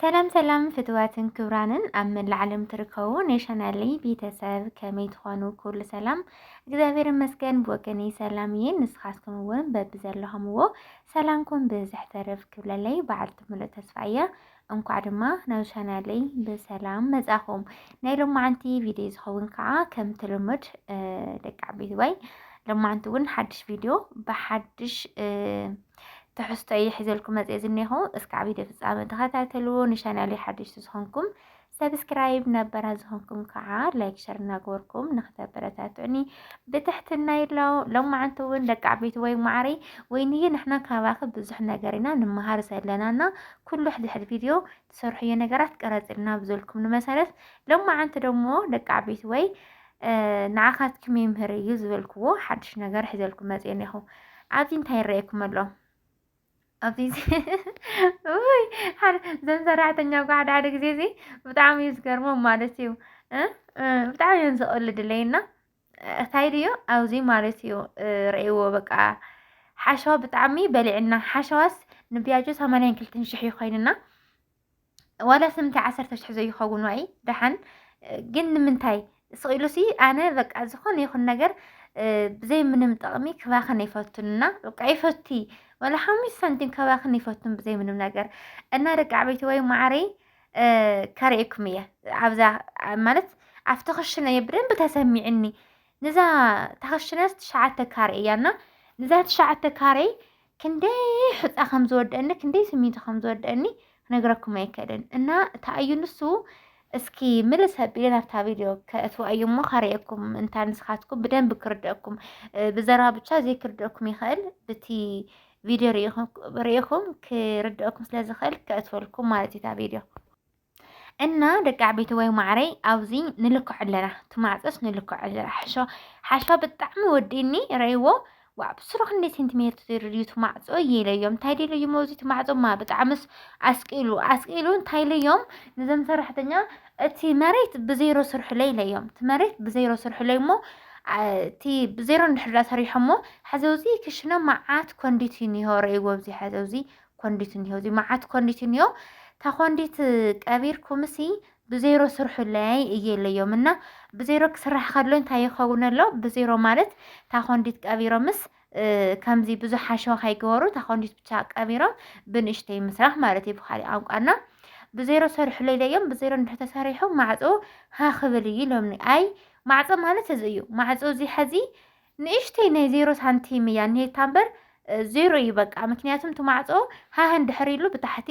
ሰላም ሰላም ፍትዋትን ክብራንን ኣብ መላእ ዓለም ትርከቡ ናይ ቻናለይ ቤተሰብ ከመይ ትኾኑ? ኩሉ ሰላም እግዚኣብሔር ይመስገን ብወገነይ ሰላም እየ። ንስኻትኩም እውን በብዘለኹምዎ ሰላምኩም ብዝሕ ተረፍ ክብለለይ በዓልቲ ሙሉእ ተስፋ እያ። እንኳዕ ድማ ናብ ቻናለይ ብሰላም መጻኹም። ናይ ሎማዓንቲ ቪድዮ ዝኸውን ከዓ ከምቲ ልሙድ ደቂ ዓበይቲ ወይ ሎማዓንቲ እውን ሓድሽ ቪድዮ ብሓድሽ ትሕዝቶ እየ ሒዘልኩም መፅኤ ዝኒኹ እስከ ዓብዪ ፍፃመ ተኸታተልዎ ንቻናሌ ሓደሽቲ ዝኾንኩም ሰብስክራይብ ነበራ ዝኾንኩም ከዓ ላይክ ሸር እናገበርኩም ንክተበረታትዑኒ ብትሕትና ይብሎ ሎማዓንቲ እውን ደቂ ዓበይቲ ወይ ማዕሪ ወይንዬ ንሕና ካባኺ ብዙሕ ነገር ኢና ንመሃር ዘለና እና ኩሉ ሕድሕድ ቪድዮ ትሰርሕዮ ነገራት ቀረጽልና ብዘልኩም ንመሰረት ሎማዓንቲ ደሞ ደቂ ዓበይቲ ወይ ንዓኻትኩም ይምህር እዩ ዝበልክዎ ሓድሽ ነገር ሒዘልኩም መጽ እኔኹ ኣብዚ እንታይ ይረኣየኩም ኣሎ ኣብዚ ውይ ዘን ሰራሕተኛ ጓ ሓደ ሓደ ግዜ እዚ ብጣዕሚ እዩ ዝገርሞም ማለት እዩ ብጣዕሚ እዮም ዝቕልድለይ እና እታይ ድዩ ኣብዚ ማለት እዩ ረእይዎ በቃ ሓሸዋ ብጣዕሚ በሊዕና ሓሸዋስ ንቢያጆ ሰማንያን ክልትን ሽሕ እዩ ኮይንና ዋላ ስምንተ ዓሰርተ ሽሕ ዘይኸውን ዋይ ደሓን ግን ንምንታይ ስቂሉሲ ኣነ በቃ ዝኾነ ይኹን ነገር ብዘይ ምንም ጥቕሚ ክባኽን ይፈቱንና በቃ ይፈቲ ወላ ሓሙሽ ሳንቲም ከባኽን ይፈቱን ብዘይ ምንም ነገር እና ደቂ ዓበይቲ ወይ ማዕረይ ከርእየኩም እየ ኣብዛ ማለት ኣብቲ ክሽነ እየ ብደንብ ተሰሚዕኒ ንዛ ታክሽነስ ትሽዓተ ካሬ እያ እና ንዛ ትሽዓተ ካሬ ክንደይ ሕፃ ከም ዝወደአኒ ክንደይ ስሚንቶ ከም ዝወደአኒ ክነግረኩም ኣይከልን እና ተኣዩ ንሱ እስኪ ምልስ ኣቢለ ናብታ ቪድዮ ከእትዋ እዩ እሞ ካርእየኩም እንታ ንስኻትኩም ብደንብ ክርደአኩም ብዘራ ብቻ ዘይክርደአኩም ይኽእል ብቲ ቪድዮ ርኢኹም ክርድአኩም ስለ ዝኽእል ከእትፈልኩም ማለት እዩ እታ ቪድዮ እና ደቂ ዓበይቲ ወይ ማዕረይ ኣብዚ ንልክዖ ኣለና ትማዕፀስ ንልክዖ ኣለና ሓሾ ሓሾ ብጣዕሚ ወዲእኒ ረእይዎ ዋብ ስሩ ክንደይ ሴንቲሜትር ትድርዩ ትማዕፆ የለዮም እንታይ ደለዩሞ እዚ ትማዕፆማ ብጣዕምስ ኣስቂሉ ኣስቂሉ እንታይ ለዮም ንዘም ሰራሕተኛ እቲ መሬት ብዜሮ ስርሑለይ ኢለዮም እቲ መሬት ብዜሮ ስርሑለይ እሞ እቲ ብዜሮ እንድሕር ሰሪሖሞ ሕዚ እዚ ክሽነ መዓት ኮንዲት እኒሆ ረእይዎ ኣብዚ ሕዚ እዚ ኮንዲት እኒሆ እዚ መዓት ኮንዲት እኒሆ ተኮንዲት ቀቢርኩምሲ ብዜሮ ስርሑለይ እየ ኢለዮም እና ብዜሮ ክስራሕ ከሎ እንታይ ይኸውን ኣሎ ብዜሮ ማለት ታኮንዲት ቀቢሮምስ ከምዚ ብዙሕ ሓሸዋ ከይገበሩ እታ ኮንዲት ብቻ ቀቢሮም ብንእሽተይ ምስራሕ ማለት እዩ ብካሊእ ቋንቋና ብዜሮ ሰርሕሎ ኢለዮም ብዜሮ እንድሕር ተሰሪሑ ማዕፆ ሃክብል እዩ ኢሎምኒ ኣይ ማዕፆ ማለት እዚ እዩ ማዕፆ እዚ ሐዚ ንእሽተይ ናይ ዜሮ ሳንቲም እያ እኒሄታ እምበር ዜሮ እዩ በቃ ምክንያቱም እቲ ማዕፆ ሃህ እንድሕር ኢሉ ብታሕቲ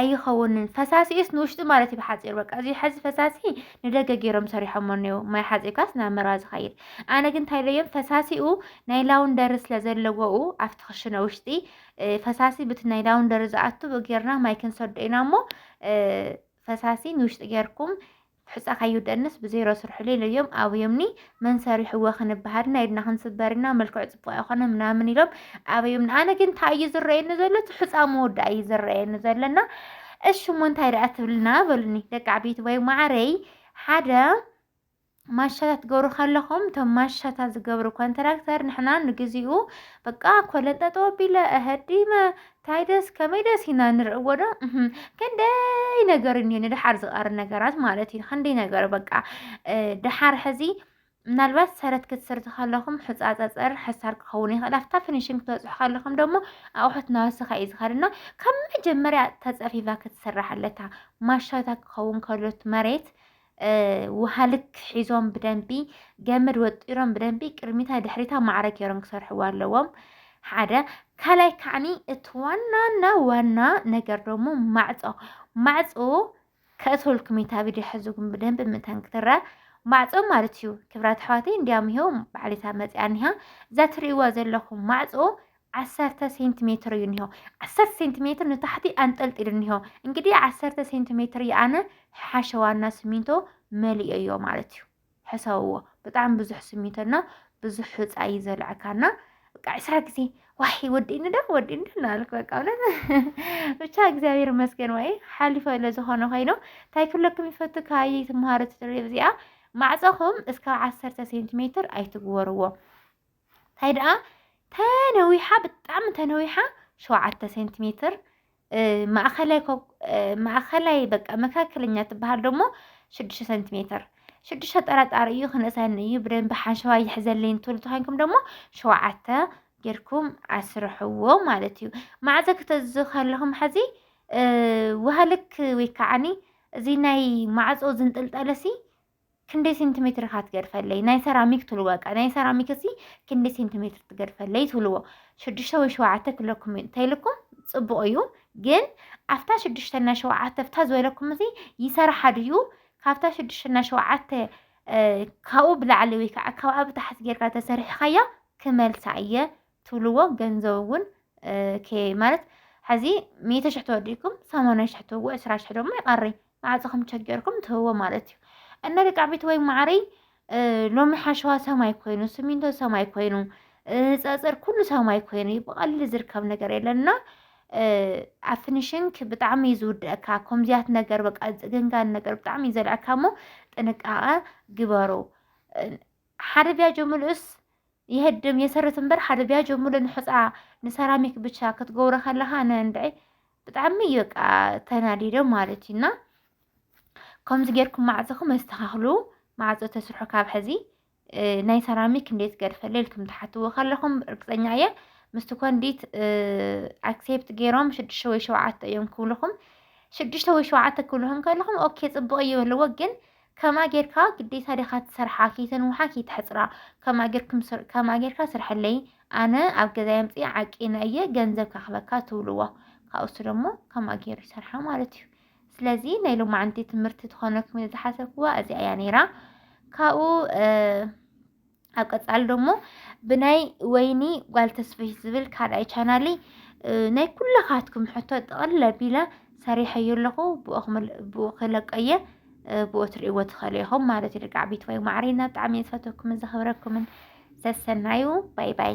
ኣይኸውንን ፈሳሲኡስ ንውሽጢ ማለት እዩ ብሓፂሩ በቃ እዚ ሐዚ ፈሳሲ ንደገ ገይሮም ሰሪሖሞ እኔው ማይ ሓፂብካስ ናብ መርዋ ዝኸይድ ኣነ ግን እንታይ ኢለዮም ፈሳሲኡ ናይ ላውንደሪ ስለ ዘለዎኡ ኣብቲ ክሽነ ውሽጢ ፈሳሲ ብቲ ናይ ላውንደሪ ዝኣቱ ብጌርና ማይ ክንሰዶ ኢና እሞ ፈሳሲ ንውሽጢ ጌርኩም ሕጻ ካይውደእንስ ብዜሮ ስርሑለይ ኢለዮም ኣበዮምኒ፣ መን ሰሪሑዎ ክንበሃር ኢና፣ ኢድና ክንስበር ኢና፣ መልክዑ ጽቡቕ ኣይኮነን ምናምን ኢሎም ኣበዮምኒ። ኣነ ግን እንታይ እዩ ዝረኣየኒ ዘሎ እቲ ሕጻ መወዳእ እዩ ዝረኣየኒ ዘሎና እሺ እሞ እንታይ ደኣ ትብልና በሉኒ ደቂ ዓበይቲ ወይ ማዕረይ ሓደ ማሻታት ትገብሩ ከለኹም እቶም ማሻታ ዝገብሩ ኮንትራክተር ንሕና ንግዚኡ በቃ ኮለንጠጠ ወቢለ እህዲመ ታይ ደስ ከመይ ደስ ኢና ንርእዎ ዶ ክንደይ ነገር እኒኦ ንደሓር ዝቐር ነገራት ማለት እዩ ክንደይ ነገር በቃ ደሓር ሕዚ ምናልባት ሰረት ክትስርቲ ከለኹም ሕፃፀፀር ሕሳር ክኸውን ይኽእል ኣብታ ፊኒሽንግ ክትበፅሑ ከለኹም ደግሞ ኣቑሑት ናወሰኻ እዩ ዝኸድ እና ካብ መጀመርያ ተፀፊፋ ክትስራሕ ኣለታ ማሻታ ክኸውን ከሎት መሬት ውሃ ልክ ሒዞም ብደንቢ ገመድ ወጢሮም ብደንቢ ቅድሚታ ድሕሪታ ማዕረ ገይሮም ክሰርሕዎ ኣለዎም ሓደ ካልኣይ ከዓኒ እቲ ዋናና ዋና ነገር ደሞ ማዕፆ ማዕፆ ከእትወልኩም እታ ቪድዮ ሕዝኩም ብደንብ ምእንታን ክትረ ማዕፆ ማለት እዩ ክብራት ኣሕዋተይ እንዲያም ይኸው ባዕሊታ መፅያ እኒሃ እዛ ትርእይዋ ዘለኹም ማዕፆ ዓሰርተ ሴንቲሜትር እዩ እኒሆ ዓሰርተ ሴንቲሜትር ንታሕቲ ኣንጠልጢሉ እኒሆ እንግዲህ ዓሰርተ ሴንቲሜትር ይኣነ ሓሸዋና ስሚንቶ መሊኦዮ ማለት እዩ ሕሰብዎ ብጣዕሚ ብዙሕ ስሚንቶና ብዙሕ ሕፃ እዩ ዘልዕካና በቃ ዕስራ ግዜ ዋይ ወዲእኒ ዶ ወዲእኒ ዶ እናበልክ በቃ እውነት ብቻ እግዚኣብሔር ይመስገን ወይ ሓሊፈ ለዝኾነ ኮይኑ እንታይ ክብለኩም ይፈቱ ካየ ትምሃሮ ትድሪ እዚኣ ማዕፀኹም እስካብ ዓሰርተ ሴንቲሜትር ኣይትግበርዎ እንታይ ደኣ ተነዊሓ ብጣዕሚ ተነዊሓ ሸውዓተ ሴንቲሜትር ማእኸላይ ማእኸላይ በቃ መካከለኛ ትበሃል ደሞ ሽዱሽተ ሰንቲሜትር ሽዱሽተ ጠራጣሪ እዩ ክነሳኒ እዩ ብደንቢ ሓሸዋ ይሕዘለይ እንትብሉ ተኮይንኩም ደሞ ሸውዓተ ጌርኩም ኣስርሕዎ ማለት እዩ ማዕዘ ክተዝ ከለኹም ሕዚ ውሃልክ ወይ ከዓኒ እዚ ናይ ማዕፆ ዝንጥልጠለሲ ክንደይ ሴንቲሜትር ኢኻ ትገድፈለይ ናይ ሰራሚክ ትብሉ በቃ ናይ ሰራሚክ እሲ ክንደይ ሴንቲሜትር ትገድፈለይ ትብልዎ ሽዱሽተ ወይ ሸውዓተ ክለኩም እዩ እንተይልኩም ፅቡቕ እዩ ግን ኣብታ ሽዱሽተና ሸውዓተ ብታ ዝበለኩም እዚ ይሰርሓ ድዩ ካብታ ሽዱሽተና ሸውዓተ ካብኡ ብላዕሊ ወይ ከዓ ካብኣ ብታሕቲ ጌርካ ተሰሪሕኻያ ክመልሳ እየ ትብልዎ ገንዘብ እውን ማለት ሕዚ ሚእተ ሽሕ ተወዲእኩም ሰማንያ ሽሕ ትህቡ ዕስራ ሽሕ ድማ ይቐሪ ማዕፆ ከም ቸገርኩም ትህቦ ማለት እዩ እና ደቂ ዓበይቲ ወይ ማዕረይ ሎሚ ሓሸዋ ሰማይ ኮይኑ ስሚንቶ ሰማይ ኮይኑ ፀፅር ኩሉ ሰማይ ኮይኑ እዩ ብቐሊሉ ዝርከብ ነገር የለና ኣብ ፊኒሽንግ ብጣዕሚ እዩ ዝውድአካ ከምዚያት ነገር በቃ ዝፅግንጋን ነገር ብጣዕሚ እዩ ዘልዐካ እሞ ጥንቃቐ ግበሩ ሓደ ቢያጆ ምልኡስ የህድም የሰርት እምበር ሓደ ቢያጆ ሙሉእ ንሑፃ ንሰራሚክ ብቻ ክትገብሮ ከለካ ንእንድዒ ብጣዕሚ እዩ በቃ ተናዲደ ማለት እዩ እና ከምዚ ጌርኩም ማዕፅኹም ኣስተኻኽሉ ማዕፆ ተስርሑ ካብ ሕዚ ናይ ሰራሚክ እንዴት ገድፈለ ኢልኩም ትሓትዎ ከለኹም ርግፀኛ እየ ምስቲ ኮንዲት ኣክሴፕት ገይሮም ሽዱሽተ ወይ ሸውዓተ እዮም ክብልኹም ሽዱሽተ ወይ ሸውዓተ ክብልኹም ከለኹም ኦኬ ፅቡቕ እዩ በልዎ ግን ከማ ጌርካ ግዴታ ዲኻ ትሰርሓ ከይተንውሓ ከይተሕጽራ ከማ ጌርኩም ስር ከማ ጌርካ ስርሐለይ ኣነ ኣብ ገዛይ ኣምጽእ ዓቂነ እየ ገንዘብ ከኽበካ ትብልዎ ካብኡሱ ደሞ ከማ ጌሩ ይሰርሓ ማለት እዩ ስለዚ ናይ ሎማዓንቲ ትምህርቲ ትኾነኩም ዝሓሰብክዋ እዚኣ እያ ነይራ ካብኡ ኣብ ቀጻሊ ደሞ ብናይ ወይኒ ጓል ተስፍሽ ዝብል ካልኣይ ቻናለይ ናይ ኩላኻትኩም ሕቶ ጠቕልል ኣቢለ ሰሪሐዮ ኣለኹ ብኡ ክለቀየ ብኡ ትርእይዎ ትኽእሉ ኢኹም ማለት እዩ ደቂ ዓበይቲ ወይ ማዕሪና ብጣዕሚ እየ ዝፈትወኩምን ዘኽብረኩምን ሰሰናዩ ባይ ባይ